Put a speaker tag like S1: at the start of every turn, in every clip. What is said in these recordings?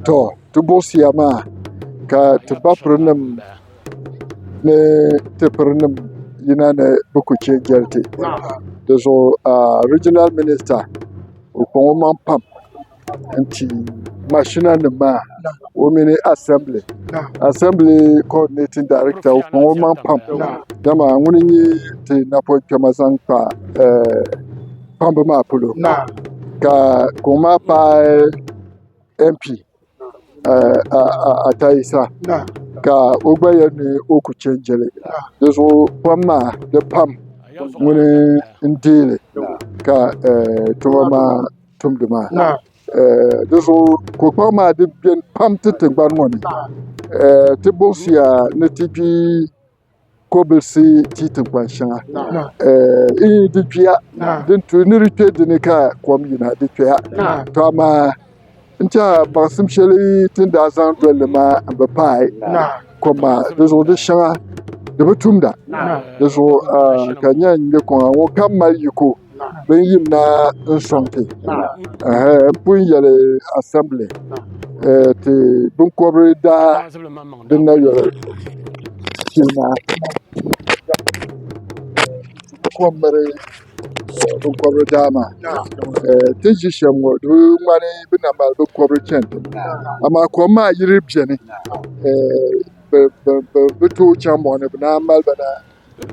S1: to ti buɣisiya maa ka ti ba pirinim ni ti pirinim yina ni bɛ ku che jɛli ti di zuɣu riijinal minista o kpaŋ o maŋ pam n-ti mashinanima maa o mini asɛmbili asɛmbili kɔdinɛtin daiɛkta o kpaŋ o maŋ pam dama ŋuni n-nyɛ ti napɔŋ kpɛma zaŋ kpa kpamba maa polo ka o maa paai MP Ata Yisa ka o gba yɛli ni o ku chɛ jɛli di zuɣu kom maa di pam ŋuni n deei li ka tuma maa tumdi maa di zuɣu ko kpɛɣu maa di beni pam ti tiŋgbani ŋɔ ni ti buɣisiya ni ti gbi kɔbilisi ti tinkpan shɛŋa di kpiya ni di kpɛ dinni ka kom yina di kpɛya to amaa n tiɛha baŋsim shɛli ti ni daa zaŋ dolli maa n bi paai kom maa dizuɣu di shɛŋa di bi tumda dizuɣu ka n yɛn nyɛ kuŋa ŋɔ ka mali yiko Bin yim na n-sɔŋ ti pun yɛli asɛmbili ti biŋkɔbiri daa din na yoli shee maa kom miri biŋkɔbiri daa maa. Ti ni ʒi shɛm ŋɔ di bi ŋmani bɛ na mali biŋkɔbiri chani tiŋ amaa kom maa yiri beni bɛ tooi chaŋ mɔɣu ni bɛ naan mali ba na.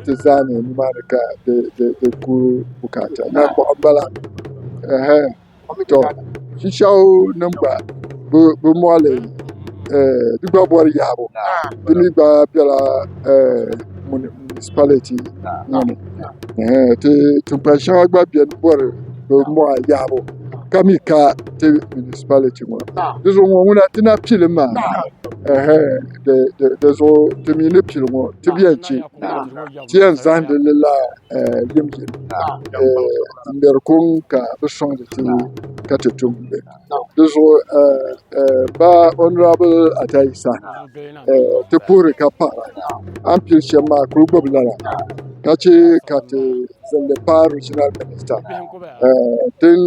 S1: Ti zaa mi nimaani ka di ku bukaata ni kɔɣu m-bala ɛɛh tɔ Chichawu nima gba bɛ mɔɣili di gba bɔri yahibu di mi gba bela munisipaliti ŋɔ ni ɛɛh ti tiŋgbani shɛŋa gba beni bɔri bɛ mɔɣu yahibu ka mi ka ti munisipaliti ŋɔ ni di zuɣu ŋɔ ŋuna ti na pili maa ɛɛh. di zuɣu ti mi ni pili ŋɔ ti bɛn chɛ ti yɛn zahindi li la yim yim n-ŋmɛri kuŋ ka bɛ sɔŋdi ti ka ti tum li di zuɣu ba ɔnurabili Ata Yisa ti puhiri ka paɣira a ni pili shɛm maa kuli gbubi lala ka chɛ ka ti zaŋ li paai riijinal minista din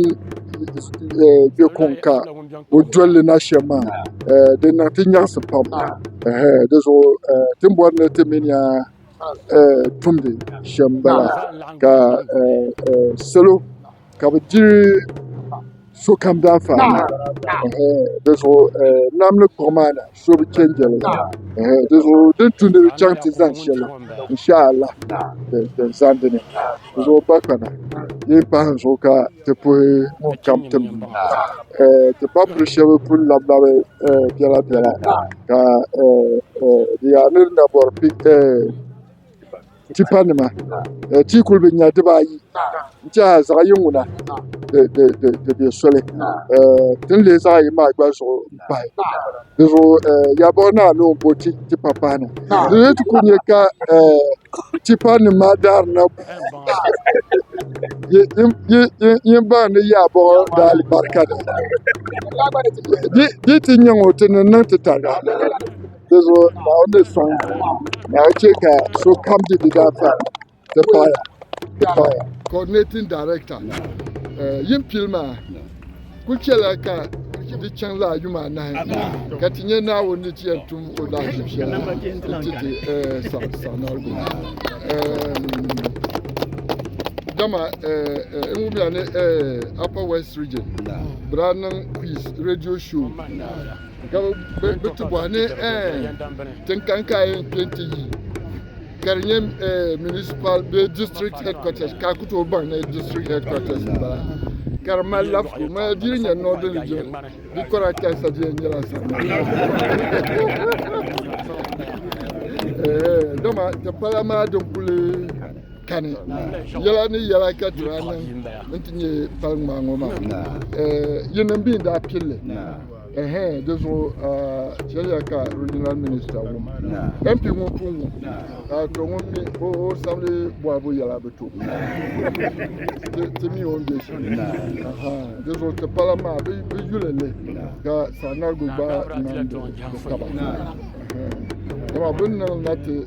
S1: be kuŋ ka o dolli na shɛm maa di niŋ ti nyaɣisi pam di zuɣu ti ni bɔri ni ti mini ya tumdi shɛm bala ka salo ka bi diri sokam daanfaani di zuɣu nam ni kpiɣu maa na so bi chɛn jɛli di zuɣu di ni tumdi di chaŋ ti zaŋ shɛli inshaallah din zani di ni di zuɣu ba kana di ni pahi zuɣu ka ti puhi ŋun kam tim ti ba puli shɛba pun labi labi biɛla biɛla ka di yaa ni di na bɔri Tipa nima ti yi kuli bi nya dibaayi n tiɛha zaɣ yini ŋuna di bɛ soli ti ni lihi zaɣ yini maa gba zuɣu n pahi dizuɣu yaa buɣi naa ni o ni bo tipa pahi na di ni ti ku nyɛ ka tipa nim maa daarina yini baŋ ni yaa buɣi daa alibarika ni di yi ti nyɛ ŋɔ ti niŋ niŋ ti tariga Di zuɣu Naawuni ni sɔŋ ka a chɛ ka sokam di di daa pa ti paɣaya ti paɣaya. Coordinating Director eh, yimpil maa kul chɛla ka di chaŋ laa yuma anahi ka ti nya Naawuni ni ti yɛn tum o lahaʒib shɛli nti ti eh, saɣ- saɣinarigu. Eh, Dama eh, eh, n wumya ni eh, Upper West Region bira niŋ quiz radio show ka bi ti bɔhi ni tin kani ka a yɛn kpɛ ti yi ka di nyɛ municipal bee district headquarters ka a ku tooi baŋ ni district headquarters n bala ka di mali lafiku mali di nyɛ north region di kɔra kansa di yɛn nyɛla sa dama ti pala maa din kuli kani yɛla ni yɛla ka ti daa niŋ n ti nyɛ pali ŋmaa ŋɔ maa yi niŋ bi n daa pilli Ɛhɛɛn, di zuɣu shɛliya ka Regional Minister wum MP ŋɔ pun ŋu ka a tɔ ŋun mi o sabili bɔhibu yɛla bi to ti mi o ni bɛ shɛm. Di zuɣu ti pala maa bi yuli li ka Saanarigu gba niŋdi bi taba. Dama bi ni niŋ na ti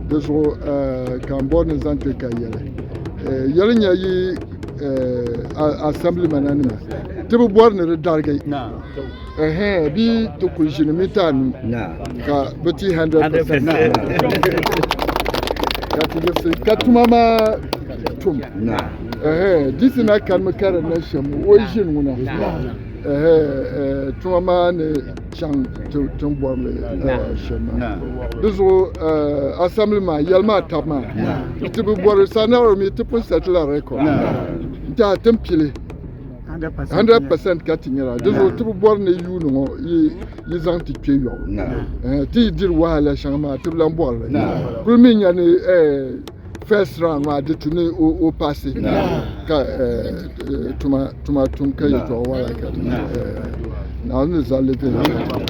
S1: Di zuɣu ka n bɔri ni zaŋ ti ka yɛli. Yɛli nya yi asɛmbilimana nima ti bi bɔri ni di darigi bee ti kuli ʒini mita anu ka bi ti 100% ka ti yiɣisi ka tuma maa tum. Diisi na karimi ka di niŋ shɛm o yi ʒini ŋuna tuma maa ni chaŋ tiŋ bɔrili shɛm maa di zuɣu asɛmbili maa yɛli maa tab maa ti bi bɔri sanaro mi ti pun sɛtila rɛkɔd n tiɛha tin pili 100 percent ka ti nyɛla di zuɣu ti bi bɔri ni yuuni ŋɔ yi zaŋ ti kpɛ yɔɣu ti yi diri wahala shɛŋa maa ti bi lan bɔrili kuli mi nya ni first round maa di tu ni o paasi ka tuma tum ka yɛtɔɣa wala ka naawuni ni zali bɛ